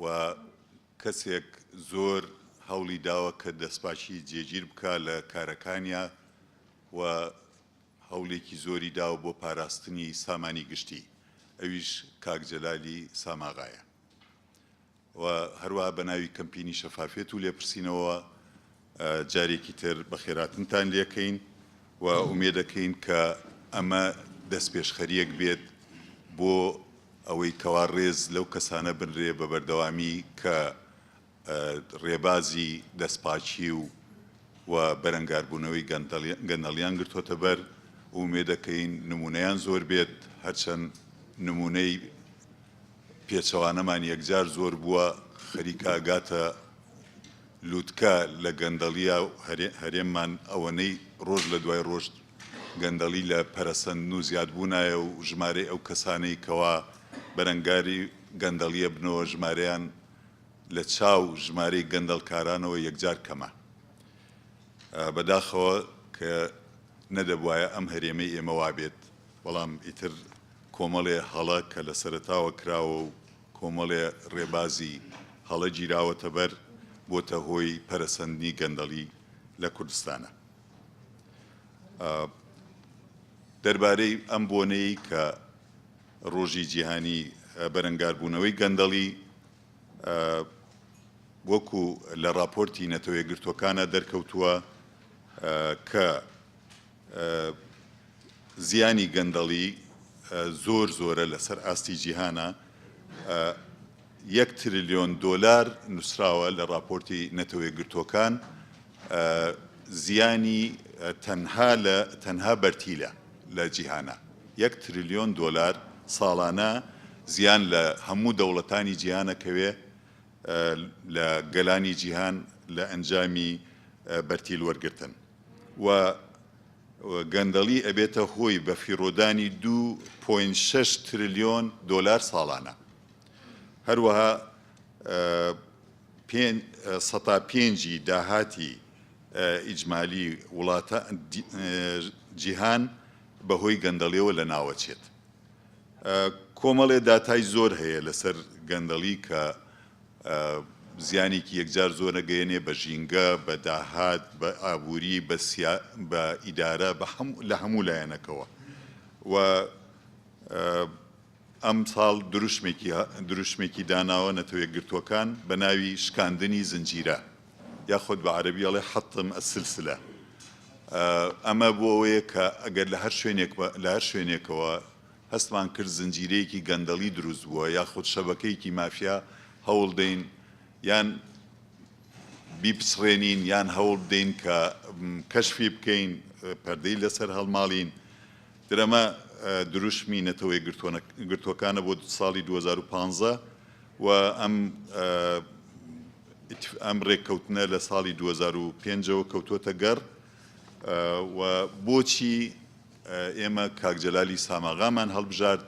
و کەسێک زۆر هەوڵی داوە کە دەستپاکی جێگیر بکە لە کارەکانیا و هەوڵێکی زۆری داوە بۆ پاراستنی سامانی گشتی ئەویش کاک جەلالی ساماغایە و هەروەها بە ناوی کەمپینی شەفافیەت و لێپرسینەوەوە جارێکی تر بەخێراتنتان لێکەین و ئومێدەکەین کە ئەمە دەستپێشخەریەک بێت بۆ ئەوەی کەوا ڕێز لەو کەسانە بنرێ بە بەردەوامی کە ڕێبازی دەستپاکی و و بەرەنگاربوونەوەی گەندەڵیان گرتوۆتە بەر ئومێدەکەین نمونەیان زۆر بێت هەرچەند نمونەی پێچەوانەمان یەکجار زۆر بووە، خەریکە ئەگاتە لوتکە لە گەندەڵییا و هەرێممان ئەوەنەی رۆژ لە دوای رۆژ گەندەڵی لە پەرەسەندن و زیادبوونایە و ژمارەی ئەو کەسانەی کەوا بەرەنگاری گەندەڵی ئەبنەوە ژمارەیان لە چاو ژمارەی گەندەڵکارانەوە یەکجار کەمە بەداخەوە کە نەدەبوایە ئەم هەرێمەی ئێمە وابێت. بەڵام ئیتر کۆمەڵێ هەڵە کە لە سەرەتاوە کراوە و کۆمەڵێ ڕێبازی هەڵە گیراوەتە بەر، بۆتە هۆی پەرەسەندنی گەندەڵی لە کوردستانا. دەربارەی ئەم بۆنەی کە ڕۆژی جیهانی بەرەنگاربوونەوەی گەندەڵی وەکو لە ڕاپۆرتی نەتەوەیەکگرتووەکانا دەرکەوتووە کە، زیانی گەندەڵی زۆر زۆرە لەسەر ئاستی جیهانا یەک ترلیۆن دۆلار نووسراوە لە ڕاپۆرتی نەتەوەیەکگرتووەکان زیانی تەنها لە تەنها بەرتیلە لە جیهانا یەک ترلیۆن دۆلار ساڵانە زیان لە هەموو دەوڵەتانی جیهانەکەوێ لە گەلانی جیهان لە ئەنجامی بەرتیل وەرگرتن. و گەندەڵی ئەبێتە هۆی بەفیڕۆدانی دوو پۆینت شەش ترلیۆن دۆلار ساڵانە هەروەها پێنج سەتا پێنج ی داهاتی ئیجمالی وڵاتە جیهان بەهۆی گەندەڵیەوە لەناوەچێت کۆمەڵێ داتای زۆر هەیە لەسەر گەندەڵی کە زیانێکی یەکجار زۆر ئەگەیەنێ بە ژینگە، بە داهات، بە ئابووری، بە سیا، بە ئیدارە، بە هەم، لە هەموو لایەنەکەوە و ئەمساڵ دروشمێکی، دروشمێکی داناوە نەتەوەیەکگرتووەکان بە ناوی شکاندنی زنجیرە یاخود بە عەرەبی ئەڵێ حطم السلسلە ئەمە بۆ ئەوەیە کە ئەگەر لە هەر شوێنێک، لە هەر شوێنێکەوە هەستمان کرد زنجیرەیەکی گەندەڵی دروست بووە یاخود شەبەکەیەکی مافیا هەوڵدەین یان بیپچڕێنین یان هەوڵبدەین کە کەشفی بکەین پەردەی لەسەر هەڵماڵین درەمە دروشمی نەتەوە یەکگرتووەکانە بۆ ساڵی دوو هەزار و پازدە و ئەم ئەم رێککەوتنە لە ساڵی دوو هەزار و پێنج ەوە کەوتووەتە گەڕ و بۆچی ئێمە کاک جەلالی ساماغامان هەڵبژارد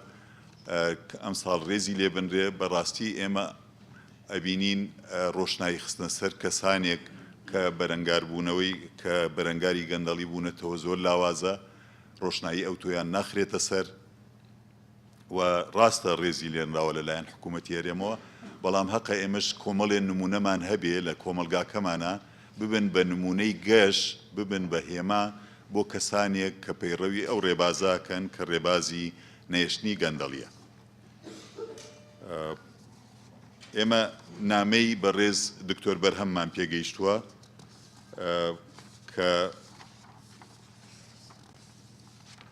کە ئەمساڵ رێزی لێ بنرێ، بەڕاستی ئێمە ئەبینین رۆشنایی خستنە سەر کەسانێک کە بەرەنگاربوونەوەی کە بەرەنگاری گەندەڵی بوونەتەوە زۆر لاوازە، رۆشنایی ئەوتۆیان ناخرێتە سەر. و ڕاستە ڕێزی لێنراوە لە لایەن حکوومەتی هەرێمەوە، بەڵام هەقە ئێمەش کۆمەڵێ نموونەمان هەبێ لە کۆمەڵگاکەمانا، ببن بە نموونەی گەش، ببن بە هێما بۆ کەسانێک کە پەیڕەوی ئەو ڕێبازە ئەکەن کە ڕێبازی نەهێشتنی گەندەڵییە. ئێمە نامەی بەڕێز دکتۆر بەرهەممان پێ گەیشتووە کە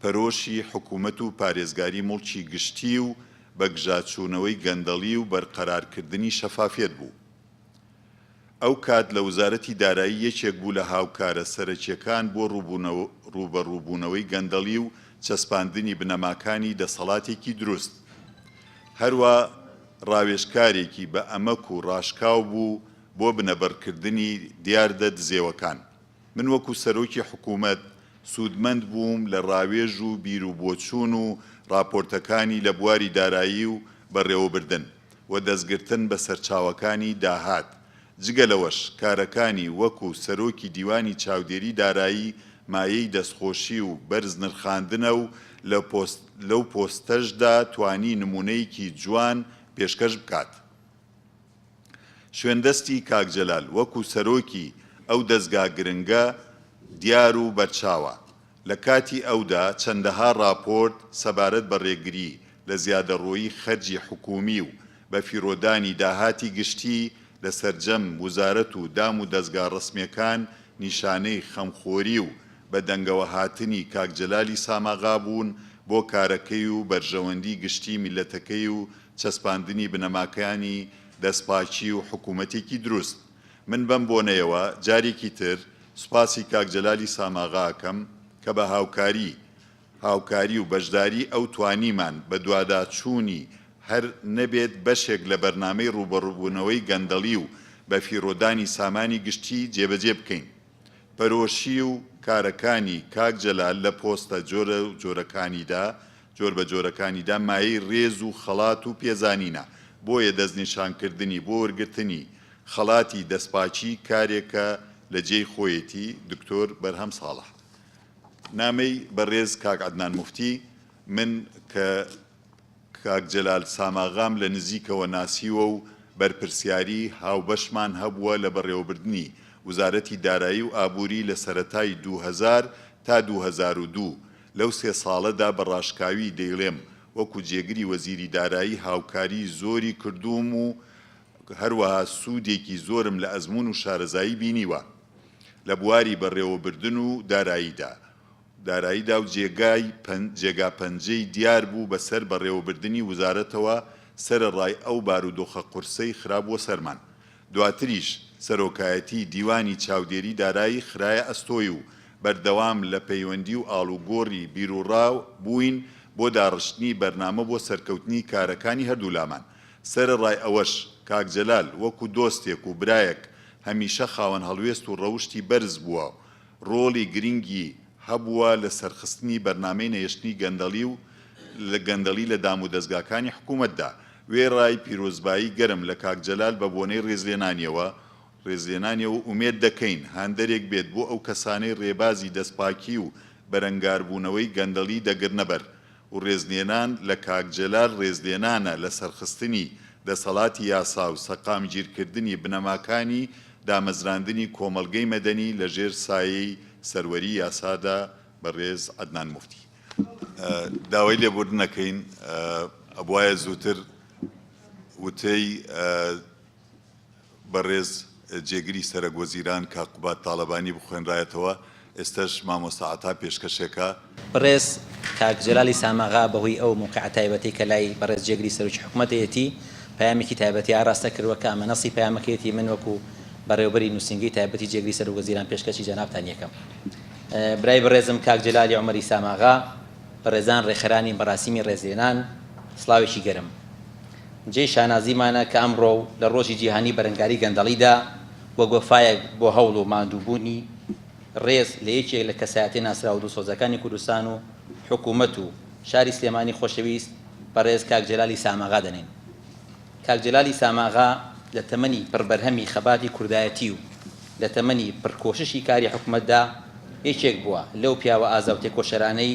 پەرۆشی حکومەت و پارێزگاری موڵکی گشتی و بەگژاچوونەوەی گەندەڵی و بەرقەرارکردنی شەفافیەت بوو. ئەو کات لە وزارەتی دارایی یەکێک بوو لە هاوکارە سەرەکیەکان بۆ ڕووبەڕووبوونەوەی گەندەڵی و چەسپاندنی بنەماکانی دەسەڵاتێکی دروست. هەروا ڕاوێژکارێکی بە ئەمەک و ڕاشکاو بوو بۆ بنەبڕکردنی دیاردە دزێوەکان. من وەکو سەرۆکی حکومەت سوودمەند بووم لە ڕاوێژ و بیروبۆچوون و ڕاپۆرتەکانی لە بواری دارایی و بەڕێوەبردن و دەستگرتن بە سەرچاوەکانی داهات، جگە لەوەش کارەکانی وەکو سەرۆکی دیوانی چاودێری دارایی مایەی دەستخۆشی و بەرز نرخاندنە و لەو پۆستەشدا توانی نموونەیەکی جوان پێشکەش بکات. شوێندەستی کاک جەلال وەکو سەرۆکی ئەو دەزگا گرنگە دیار و بەرچاوە، لە کاتی ئەودا چەندەها راپۆرت سەبارەت بە رێگری لە زیادەڕۆیی خەرجی حکوومی و بەفیڕۆدانی داهاتی گشتی لە سەرجەم وزارەت و دام و دەزگا رەسمیەکان نیشانەی خەمخۆری و بە دەنگەوە هاتنی کاک جەلالی ساماغا بوون بۆ کارەکەی و بەرژەوەندی گشتی میللەتەکەی و چەسپاندنی بنەماکانی دەستپاکی و حکوومەتێکی دروست. من بەم بۆنەیەوە جارێکی تر سوپاسی کاک جەلالی ساماغا ئەکەم کە بە هاوکاری هاوکاری و بەشداریی ئەو توانیمان بە دواداچوونی هەر نەبێت بەشێک لە بەرنامەی ڕووبەڕووبوونەوەی گەندەڵی و بەفیڕۆدانی سامانی گشتی جێبەجێ بکەین. پەرۆشی و کارەکانی کاک جەلال لە پۆستە جۆرەوجۆرەکانیدا جۆر بە جۆرەکانیدا مایەی رێز و خەڵات و پێزانینە، بۆیە دەستنیشانکردنی بۆ وەرگرتنی خەڵاتی دەستپاکی کارێکە لە جێی خۆیەتی، دکتۆر بەرهەم ساڵح نامەی بەڕێز کاک عەدنان موفتی، من کە کاک جەلال ساماغام لە نزیکەوە ناسیوە و بەرپرسیاری هاوبەشمان هەبووە لە بەڕێوەبردنی وزارەتی دارایی و ئابووری لە سەرەتای دوو هەزار تا دوو هەزار و دوو لەو سێ ساڵەدا بە ڕاشکاوی دەیڵێم وەکو جێگری وەزیری دارایی هاوکاری زۆری کردووم و هەروەها سوودێکی زۆرم لە ئەزموون و شارەزایی بینیوە لە بواری بەڕێوەبردن و داراییدا داراییدا و جێگای جێگا پەنجەی دیار بوو بەسەر بەڕێوەبردنی وزارەتەوە سەرەڕای ئەو بارودۆخە قورسەی خرابووە سەرمان دواتریش سەرۆکایەتی دیوانی چاودێری دارایی خرایە ئەستۆی و بەردەوام لە پەیوەندی و ئاڵوگۆڕی بیروڕا بووین بۆ داڕشتنی بەرنامە بۆ سەرکەوتنی کارەکانی هەردوولامان، سەرەڕای ئەوەش کاک جەلال وەکو دۆستێک و برایەک هەمیشە خاوەن هەڵوێست و ڕەوشتی بەرز بووە ڕۆڵی گرنگی هەبووە لە سەرخستنی بەرنامەی نەهێشتنی گەندەڵی و گەندەڵی لە دامودەزگاکانی حکوومەتدا. وێڕای پیرۆزبایی گەرم لە کاک جەلال بە بۆنەی ڕێزلێنانیەوە، ڕێزلێنانیەوە ئومێد دەکەین هاندەرێک بێت بۆ ئەو کەسانەی ڕێبازی دەستپاکی و بەرەنگاربوونەوەی گەندەڵی دەگرنە بەر، و ڕێزلێنان لە کاک جەلال ڕێزلێنانە لە سەرخستنی دەسەڵاتی یاسا و سەقامگیرکردنی بنەماکانی دامەزراندنی کۆمەڵگەی مەدەنی لە ژێر سایەی سەروەری یاسادا بەڕێز عەدنان موفتی داوای لێبوردن ئەکەین ئەبوایە زووتر وتەی بەڕێز جێگری سەرەک وەزیران کاک قوباد تاڵەبانی بخوێنرایەتەوە، ئێستەش مامۆستا عەتا پێشکەشێکە. بەڕێز کاک جەلالی ساماغا بەهۆی ئەو موقیعە تایبەتەی کە لای بەڕێز جێگری سەرۆکی حکومەتەیەتی، پەیامێکی تایبەتی ئاراستە کردووە کە ئەمە نەصی پەیامەکەیەتی من وەکو بەڕێوەبەری نووسینگەی تایبەتی جێگری سەرۆک وەزیران پێشکەشی جەنابتان یەکەم برای بەڕێزم کاک جەلالی عومەری ساماغا، بەڕێزان ڕێکخەرانی مەراسیمی ڕێزلێنان، سڵاوێکی گەرم. جێی شانازیمانە کە ئەمڕۆ و لە ڕۆژی جیهانی بەرەنگاری گەندەڵیدا، وەک وەفایەک بۆ هەوڵ و ماندووبوونی ڕێز لە یەکێک لە کەسایەتیە ناسراو و دڵسۆزەکانی کوردستان و حکوومەت و شاری سلێمانی خۆشەویست بەڕێز کاک جەلالی ساماغا دەنێین. کاک جەلالی ساماغا لە تەمەنی پڕ بەرهەمی خەباتی کوردایەتی و لە تەمەنی پڕ کۆششی کاری حکوومەتدا، یەکێک بووە لەو پیاوە ئازا و تێکۆشەرانەی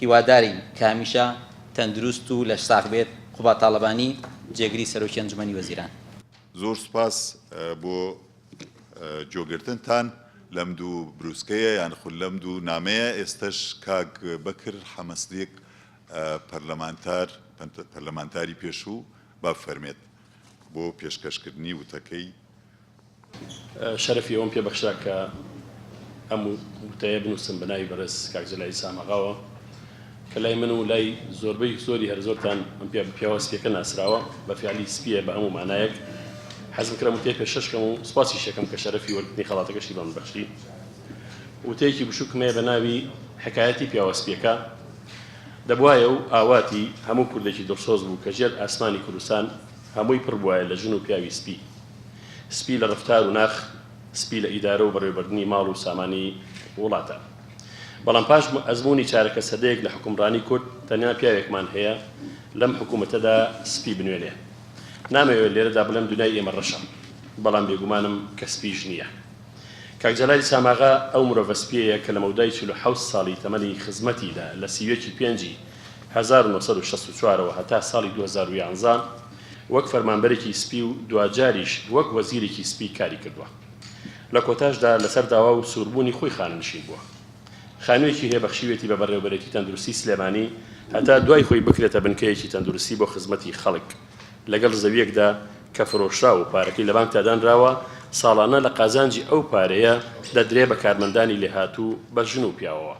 هیوادارین کە هەمیشە تەندروست و لەش ساغ بێت، قوباد تاڵەبانی، جێگری سەرۆکی ئەنجومەنی وەزیران. زۆر سوپاس بۆ گۆگرتنتان لەم دوو بروسکەیە یان خود لەم دوو نامەیە ئێستەش کاک بەکر حەمەسدیق پەرلەمانتار پەرلەمانتاری پێشوو با بفەرمێت بۆ پێشکەشکردنی وتەکەی. شەرەفی ئەوەم پێ بەخشرا کە ئەم وتەیە بنووسم بە ناوی بەڕێز کاک جەلالی ساماغاوە کە لای من و لای زۆربەی زۆری هەر زۆرتان ئەم پێ پیاوە سپیەکە ناسراوە بە فیالی سپیە بە هەموو مانایەک حەزم کرا وتەیە پێشەشکەم و سپاسی شەکەم کە شەرەفی وەرگرتنی خەڵاتەکەشی بەم بەخشی وتەیەکی بشوکمەیە بە ناوی حکایەتی پیاوە سپیەکە دەبوایە و ئاواتی هەموو کوردێکی دڵسۆز بوو کە ژێر ئاسمانی کوردستان هەمووی پڕ بوایە لە ژن و پیاوی سپی. سپی لە ڕەفتار و ناخ، سپی لە ئیدارە و بەڕێوەبردنی ماڵ و سامانی وڵاتە. بەڵام پاش ئەزموونی چارەکە سەدەیەک لە حوکمڕانی کورد، تەنیا پیاوێکمان هەیە لەم حکوومەتەدا سپی بنوێنێ. نامەوێ لێرەدا بڵێم دونیای ئێمە ڕەشە، بەڵام بێگومانم کە سپیش نییە. کاک جەلالی ساماغا ئەو مرۆڤە سپیەیە کە لە مەودای چل و حەوت ساڵی تەمەنی خزمەتی لە لە سیوێکی پێنجی هەزار و نۆ سەد و شەست و چوار ەوە هەتا ساڵی دوو هەزار و یازدە وەک فەرمانبەرێکی سپی و دواجاریش وەک وەزیرێکی سپی کاری کردووە. لە کۆتاشدا لەسەر داوا و سووربوونی خۆی خانەنشین بووە. خانوویەکی هەیە بەخشیویەتی بە بەڕێوەبەرێتی تەندروستی سلێمانی هەتا دوای خۆی بکرێتە بنکەیەکی تەندروستی بۆ خزمەتی خەڵک لەگەڵ زەویەکدا کە فرۆشراوە و پارەکەی لە بانکدا دانراوە ساڵانە لە قازانجی ئەو پارەیە دەدرێ بە کارمەندانی لێهاتوو بە ژن و پیاوەوە.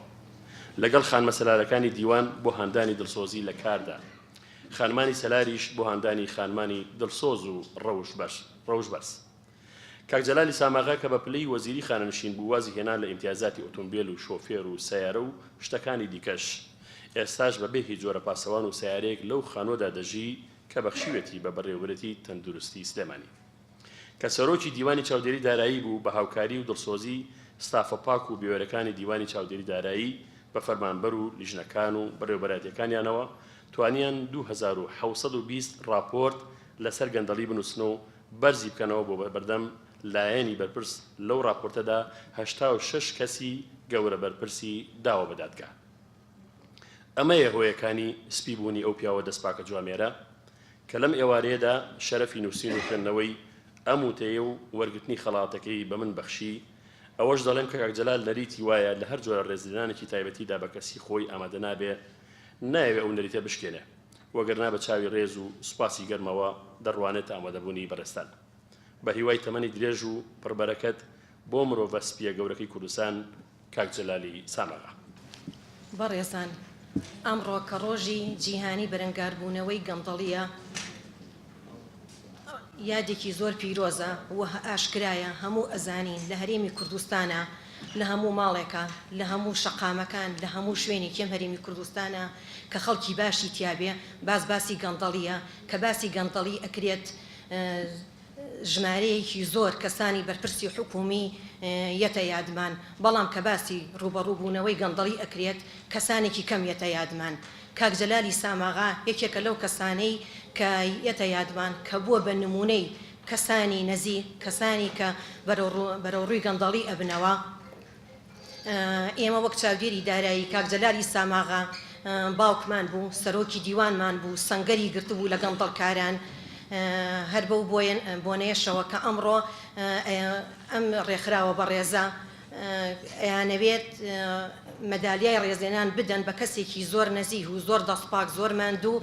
لەگەڵ خانمە سەلارەکانی دیوان بۆ هاندانی دڵسۆزی لە کاردا، خانمانی سەلاریش بۆ هاندانی خانمانی دڵسۆز و ڕەوشبەرز. کاک جەلالی ساماغا کە بە پلەی وەزیری خانەنشین بوو وازی هێنا لە ئیمتیازاتی ئۆتۆمبێل و شۆفێر و سەیارە و شتەکانی دیکەش، ئێستاش بە بێ هیچ جۆرە پاسەوان و سەیارەیەک لەو خانووەدا دەژی کە بەخشیوێتی بە بەڕێوەبەرێتی تەندروستی سلێمانی. کە سەرۆکی دیوانی چاودێری دارایی بوو بە هاوکاری و دڵسۆزی ستافە پاک و بوێرەکانی دیوانی چاودێری دارایی بە فەرمانبەر و لیژنەکان و بەڕێوەبەرایەتیەکانیانەوە توانیان دوو هەزار و حەوت سەد و بیست ڕاپۆرت لەسەر گەندەڵی بنووسن و بەرزی بکەنەوە بۆ بەردەم لایەنی بەرپرس لەو ڕاپۆرتەدا هەشتا و شەش کەسی گەورە بەرپرسی داوە بە دادگا. ئەمەیە هۆیەکانی سپی بوونی ئەو پیاوە دەست پاکە جوامێرە کە لەم ئێوارەیەدا شەرەفی نووسین و خوێندنەوەی ئەم وتەی و وەرگرتنی خەڵاتەکەی بە من بەخشی، ئەوەش دەڵێم کە کاک جەلال نەریتی وایە لە هەر جۆرە ڕێزلێنانێکی تایبەتیدا بە کەسی خۆی ئامادە نابێ، نایەوێ ئەو نەریتە بشکێنێ، وەگەرنا بە چاوی ڕێز و سوپاسی گەرمەوە دەڕوانێتە ئامادەبوونی بەڕێزتان. بە هیوای تەمەنی درێژ و پڕ بەرەکەت بۆ مرۆڤە سپییە گەورەکەی کوردستان. کاک جەلالی سامەغا. بەڕێزان، ئەمڕۆ کە ڕۆژی جیهانی بەرەنگاربوونەوەی گەندەڵییە، یادێکی زۆر پیرۆزە و ئاشکرایە هەموو ئەزانین لە هەرێمی کوردستانا لە هەموو ماڵێکا، لە هەموو شەقامەکان، لە هەموو شوێنێکی ئەم هەرێمی کوردستانا کە خەڵکی باشی تیابێ باس باسی گەندەڵییە، کە باسی گەندەڵی ئەکرێت، ژمارەیەکی زۆر کەسانی بەرپرسی حکوومی یەتە یادمان، بەڵام کە باسی ڕووبەڕوو بوونەوەی گەندەڵی ئەکرێت کەسانێکی کەم یەتە یادمان. کاک جەلالی ساماغا یەکێکە لەو کەسانەی کە یەتە یادمان کە بووە بە نموونەی کەسانی نەزیک، کەسانی کە بەرەوڕووی گەندەڵی ئەبنەوە. ئێمە وەک چاودێری دارایی کاک جەلالی ساماغا باوکمان بوو سەرۆکی دیوانمان بوو سەنگەری گرتبوو لە گەندەڵکاران هەر بەو بۆنەیەشەوە کە ئەمڕۆ ئەم ڕێکخراوە بەڕێزە ئەیانەوێت مەدالیای ڕێزێنان بدەن بە کەسێکی زۆر نەزیه و زۆر دەستپاک زۆر ماندوو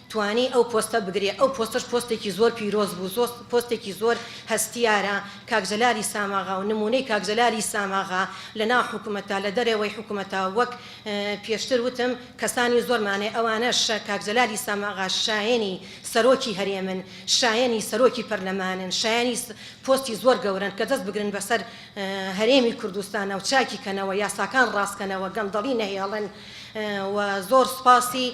توانی ئەو پۆستە بگرێ ئەو پۆستەش پۆستێکی زۆر پیرۆز بوو زۆر پۆستێکی زۆر هەستیارە کاک جەلالی ساماغا و نمونەی کاک جەلالی ساماغا لە ناو حکومەتا لە دەرەوەی حکومەتا وەک پێشتر وتم کەسانی زۆرمانێ ئەوانەش کاک جەلالی ساماغا شایەنی سەرۆکی هەرێمن شایەنی سەرۆکی پەرلەمانن شایەنی پۆستی زۆر گەورەن کە دەست بگرن بەسەر هەرێمی کوردستانا و چاکی کەنەوە یاساکان ڕاست کەنەوە گەندەڵی نەهێڵن و زۆر سوپاسی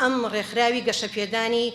ئەم ڕێکخراوی گەشەپێدانی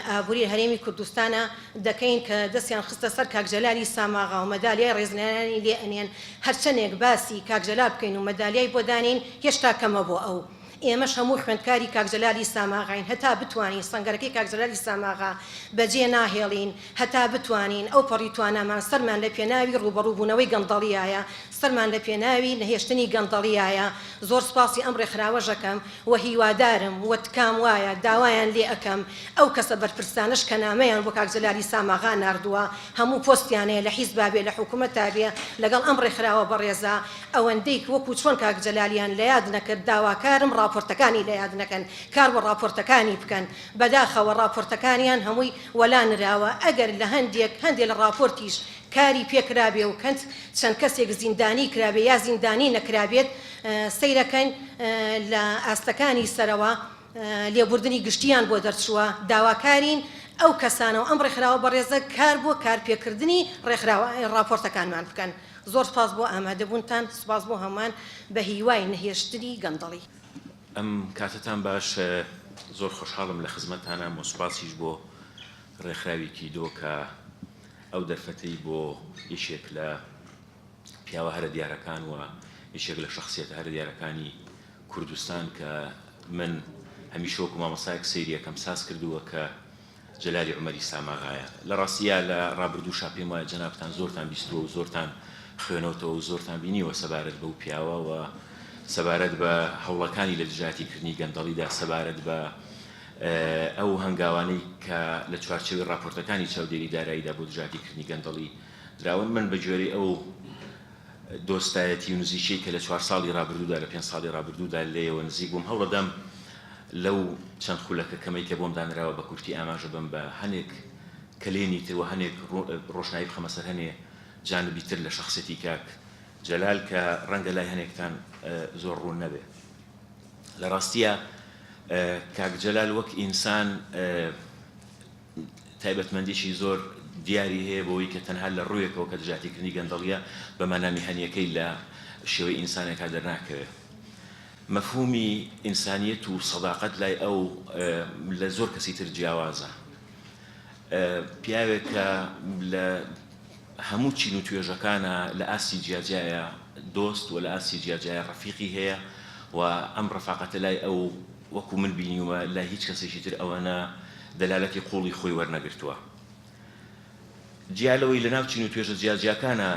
ئابووری هەرێمی کوردستانە دەکەین کە دەستیان خستە سەر کاک جەلالی ساماغا و مەدالیای ڕێزلێنانی لێ ئەنێن، هەرچەنێک باسی کاک جەلال بکەین و مەدالیای بۆ دانێین هێشتا کەمە بۆ ئەو، ئێمەش هەموو خوێندکاری کاک جەلالی ساماغاین هەتا بتوانین سەنگەرەکەی کاک جەلالی ساماغا بەجێ ناهێڵین هەتا بتوانین ئەوپەڕی توانامان سەرمان لە پێناوی ڕووبەڕووبوونەوەی گەندەڵیایە سەرمان لە پێناوی نەهێشتنی گەندەڵیایە، زۆر سپاسی ئەم ڕێکخراوەشەکەم و هیوادارم و تکام وایە داوایان لێ ئەکەم ئەو کەسە بەرپرسانەش کە نامەیان بۆ کاک جەلالی ساماغا ناردووە هەموو پۆستیانەیە لە حیزبا بێ لە حکومەتا بێ لەگەڵ ئەم ڕێکخراوە بەڕێزە ئەوەندەی وەکو چۆن کاک جەلالیان لە یاد نەکرد داواکارم ڕاپۆرتەکانی لە یاد نەکەن کار بۆ ڕاپۆرتەکانی بکەن بەداخەوە ڕاپۆرتەکانیان هەمووی وەلا نراوە ئەگەر لە هەندێک هەندێ لە ڕاپۆرتیش کاری پێ کرابێ و کەنت چەند کەسێک زیندانی کرابێ یا زیندانی نەکرابێت سەیرەکەن لە ئاستەکانی سەرەوە لێبوردنی گشتیان بۆ دەرچووە داواکارین ئەو کەسانەو ئەم ڕێکخراوە بەڕێزە کار بۆ کار پێ کردنی ڕێکخراوە ڕاپۆرتەکانمان بکەن زۆر سوپاس بۆ ئامادە بوونتان سوپاس بۆ هەمووان بە هیوای نەهێشتنی گەندەڵی. ئەم کاتەتان باش زۆر خۆشحاڵم لە خزمەتانام و سوپاسیش بۆ ڕێکخراوی کیدۆ کە. ئەو دەرفەتەی بۆ یەکێک لە پیاوە هەرە دیارەکان و یەکێک لە شخصیەتە هەرە دیارەکانی کوردستان کە من هەمیشە وەکو مامۆستایەک سەیریەکەم ساز کردووە کە جەلالی عمەری ساماغایە لە ڕاستیە لە ڕابردووشا پێم وایە جەنابتان زۆرتان بیستووە و زۆرتان خوێنەوتەوە و زۆرتان بینیوە سەبارەت بەو پیاوە و سەبارەت بە هەوڵەکانی لە دژاتیکردنی گەندەڵیدا سەبارەت بە ئەو هەنگاوانەی کە لە چوارچێوەی ڕاپۆرتەکانی چاودێری داراییدا بۆ دژاتیکردنی گەندەڵی دراون، من بە گوێرەی ئەو دۆستایەتی و نزیکیەی کە لە چوار ساڵی ڕابردوودا، لە پێنج ساڵی ڕابردوودا لێیەوە نزیک بووم، هەوڵەدەم لەو چەند خولەکە کەمەی کە بۆم دانراوە بە کورتی ئاماژە بەم بە هەنێک کەلێنی تر و هەنێک ڕۆشنایی بخەمە سەر هەنێ جانبی تر لە شەخسیەتی کاک جەلال کە ڕەنگە لای هەنێکتان زۆر ڕوون نەبێ. لە ڕاستیا کاک جەلال وەک ئینسان تایبەتمەندیی زۆر دیاری هەیە بۆی کە تەنها لە ڕوویەکەوە کە دژاتیکردنی گەندەڵیە بە مانا میهەنیەکەی لە شێوەی ئینسانێکا دەرناکەوێ. مەفهومی ئینسانیەت و سەداقەت لای ئەو لە زۆر کەسی تر جیاوازە. پیاوێک کە لە هەموو چین و توێژەکانا لە ئاستی جیاجیایە دۆست و لە ئاستی جیاجیایە ڕەفیقی هەیە و ئەم ڕەفاقەتە لای ئەو وەکو من بینیومە لای هیچ کەسێکی تر ئەوەنە دەلالەتی قووڵی خۆی وەرنەگرتووە جیا لەوەی لەناو چین و توێژە جیاجیاکانا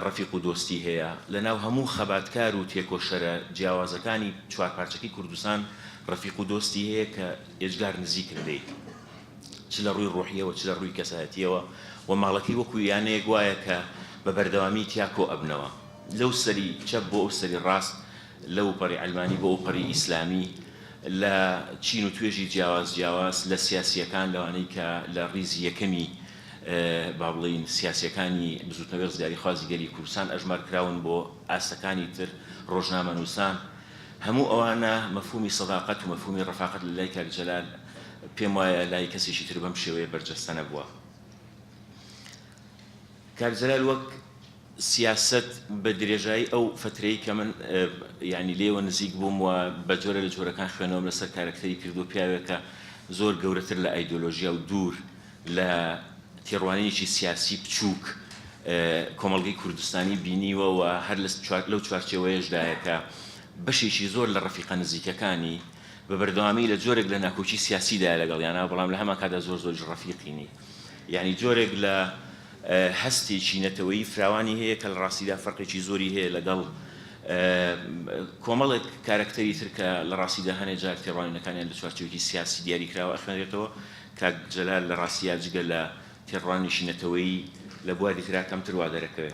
ڕەفیق و دۆستی هەیە لەناو هەموو خەباتکار و تێکۆشەرە جیاوازەکانی چوارپارچەکەی کوردستان ڕەفیق و دۆستی هەیە کە ئێجگار نزیکن لێی. چ لە ڕووی ڕوحییەوە چ لە ڕووی کەسایەتییەوە و ماڵەکەی وەکوو یانەیەک وایە کە بە بەردەوامی تیا کۆ ئەبنەوە لەو سەری چەپ بۆ ئەو سەری ڕاست لەو پەڕی عەلمانی بۆ ئەو پەڕی ئیسلامی لە چین و توێژی جیاواز جیاواز لە سیاسییەکان لەوانەی کە لە ڕیزی یەکەمی با بڵێین سیاسییەکانی بزووتنەوەی ڕزگاریخوازی گەلی کوردستان ئەژمار کراون بۆ ئاستەکانی تر ڕۆژنامەنووسان هەموو ئەوانە مەفهوومی سەداقەت و مەفهوومی ڕەفاقەت لە لای کاک جەلال پێم وایە لای کەسێکی تر بەم شێوەیە بەرجەستە نەبووە. کاک جەلال وەک سیاسەت بە درێژایی ئەو فەترەی کە من یعنی لێوە نزیک بووم و بە جۆرە لە جۆرەکان خوێنەوەم لەسەر کارەکتەری کردو پیاوێکە زۆر گەورەتر لە ئایدۆلۆژیا و دوور لە تێڕوانینێکی سیاسی بچووک کۆمەڵگەی کوردستانی بینیوە و هەر لەو چوارچێوەیەشدایە کە بەشێکی زۆر لە ڕەفیقە نزیکەکانی بە بەردەوامی لە جۆرێک لە ناکۆکی سیاسی دایە لەگەڵیانا بەڵام لە هەمان کاتدا زۆر زۆریش ڕەفیقی نی یانی جۆرێک لە هەستێکی نەتەوەیی فراوانی هەیە کە لە ڕاستیدا فەرقێکی زۆری هەیە لەگەڵ کۆمەڵێک کارەکتەری تر کە لە ڕاستیدا هەنێ جار تێڕوانینەکانیان لە چوارچێوەکی سیاسی دیاری کراوە ئەخوێنرێتەوە کاک جەلال لە ڕاستیدا جگە لە تێڕوانینێکی نەتەوەیی لە بواری ترا کەمتر وا دەرەکەوێ.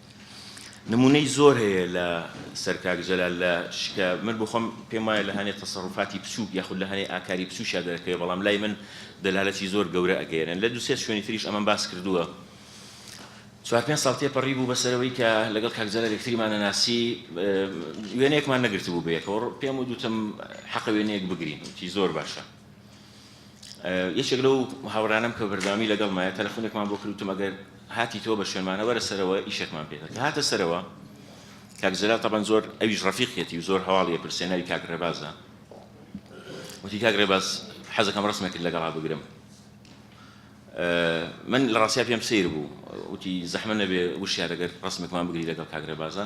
نمونەی زۆر هەیە لە سەر کاک جەلال لە شکە من بۆ خۆم پێم وایە لە هەنێ تەسەروفاتی بچووک یاخود لە هەنێ ئاکاری بچووکیا دەرەکەوێ بەڵام لای من دەلالەتی زۆر گەورە ئەگەیەنن لە دووسێ شوێنی تریش ئەمەم باس کردووە چوار پێنج ساڵ تێپەڕی بوو بەسەرەوەی کە لەگەڵ کاک جەلال یەکتریمان نەناسی وێنەیەکمان نەگرتبوو بەیەکەوە پێم و دوتم حەقە وێنەیەک بگرین وتی زۆر باشە یەکێک لەو هاوڕێیانەم کە بەردەوامی لەگەڵمایە تەلەفۆنێکمان بۆ کرد وتم ئەگەر هاتیتەوە بە شوێنمانە وەرە سەرەوە ئیشێکمان پێتە کە هاتە سەرەوە کاک جەلال تەبەن زۆر ئەویش ڕەفیقیەتی و زۆر هەواڵی ئەپرسێ ناوی کاک ڕێبازە وتی کاک ڕێباز حەزەکەم ڕسمێکرد لەگەڵا بگرم من لە ڕاستیا پێم سیر بوو وتی زەحمە نەبێ وشیارەگەر ڕسمێکمان بگری لەگەڵ کاک ڕێبازە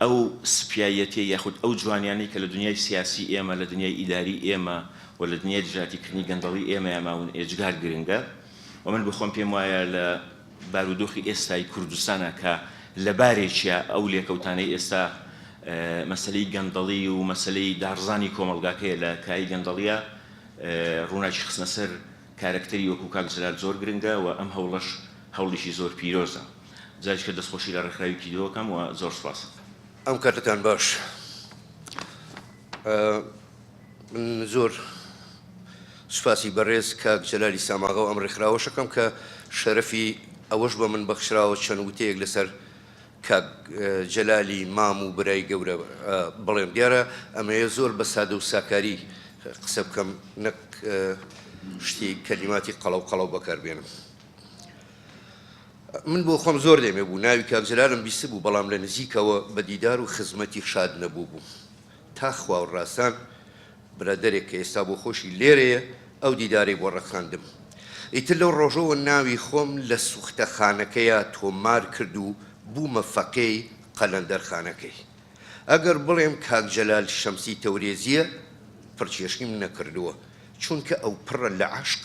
ئەو سپیایەتیە یاخود ئەو جوانیانەی کە لە دنیای سیاسی ئێمە، لە دنیای ئیداری ئێمە و لە دنیای دژایەتی کردنی گەندەڵی ئێمەیا ماون ئێجگار گرنگە و من بۆ خۆم پێم وایە لە بارودۆخی ئێستای کوردستانا کە لە بارێکیا ئەو لێکەوتانەی ئێستا مەسەلەی گەندەڵی و مەسەلەی داڕزانی کۆمەڵگاکەیە لە کایەی گەندەڵیا ڕووناکی خستنە سەر کارەکتەری وەکو کاک جلال زۆر گرنگە و ئەم هەوڵەش هەوڵیکی زۆر پیرۆزە جاریش کە دەستخۆشی لە ڕێکخراوی کیدۆ ئەکەم و زۆر سوپاست ئەکەم. ئەم کاتەتان باش من زۆر سوپاسی بەڕێز کاک جەلالی ساماغە و ئەم ڕێکخراوەش ئەکەم کە شەرەفی ئەوەش بە من بەخشراوە چەند وتەیەک لەسەر کاک جەلالی مام و برای گەورە بڵێم دیارە ئەمەیە زۆر بە سادە و ساکاری قسە بکەم نەک شتی کەلیماتی قەڵەو قەڵەو بەکار بێنم من بۆ خۆم زۆر لێمێ بوو ناوی کاک جەلالم بیست بوو بەڵام لە نزیکەوە بە دیدار و خزمەتی شاد نەبوو بوو تا خوا و ڕاسان برادەرێک کە ئێستا بۆ خۆشی لێرەیە ئەو دیدارەی بۆ ڕەخساندم. ئیتر لەو ڕۆژەوە ناوی خۆم لە سوختەخانەکەیا تۆمار کرد و بوومە فەقێی قەلەندەرخانەکەی. ئەگەر بڵێم کاک جەلال شەمسی تەورێزییە، پڕچێشنیم نەکردووە، چونکە ئەو پڕە لە عەشق.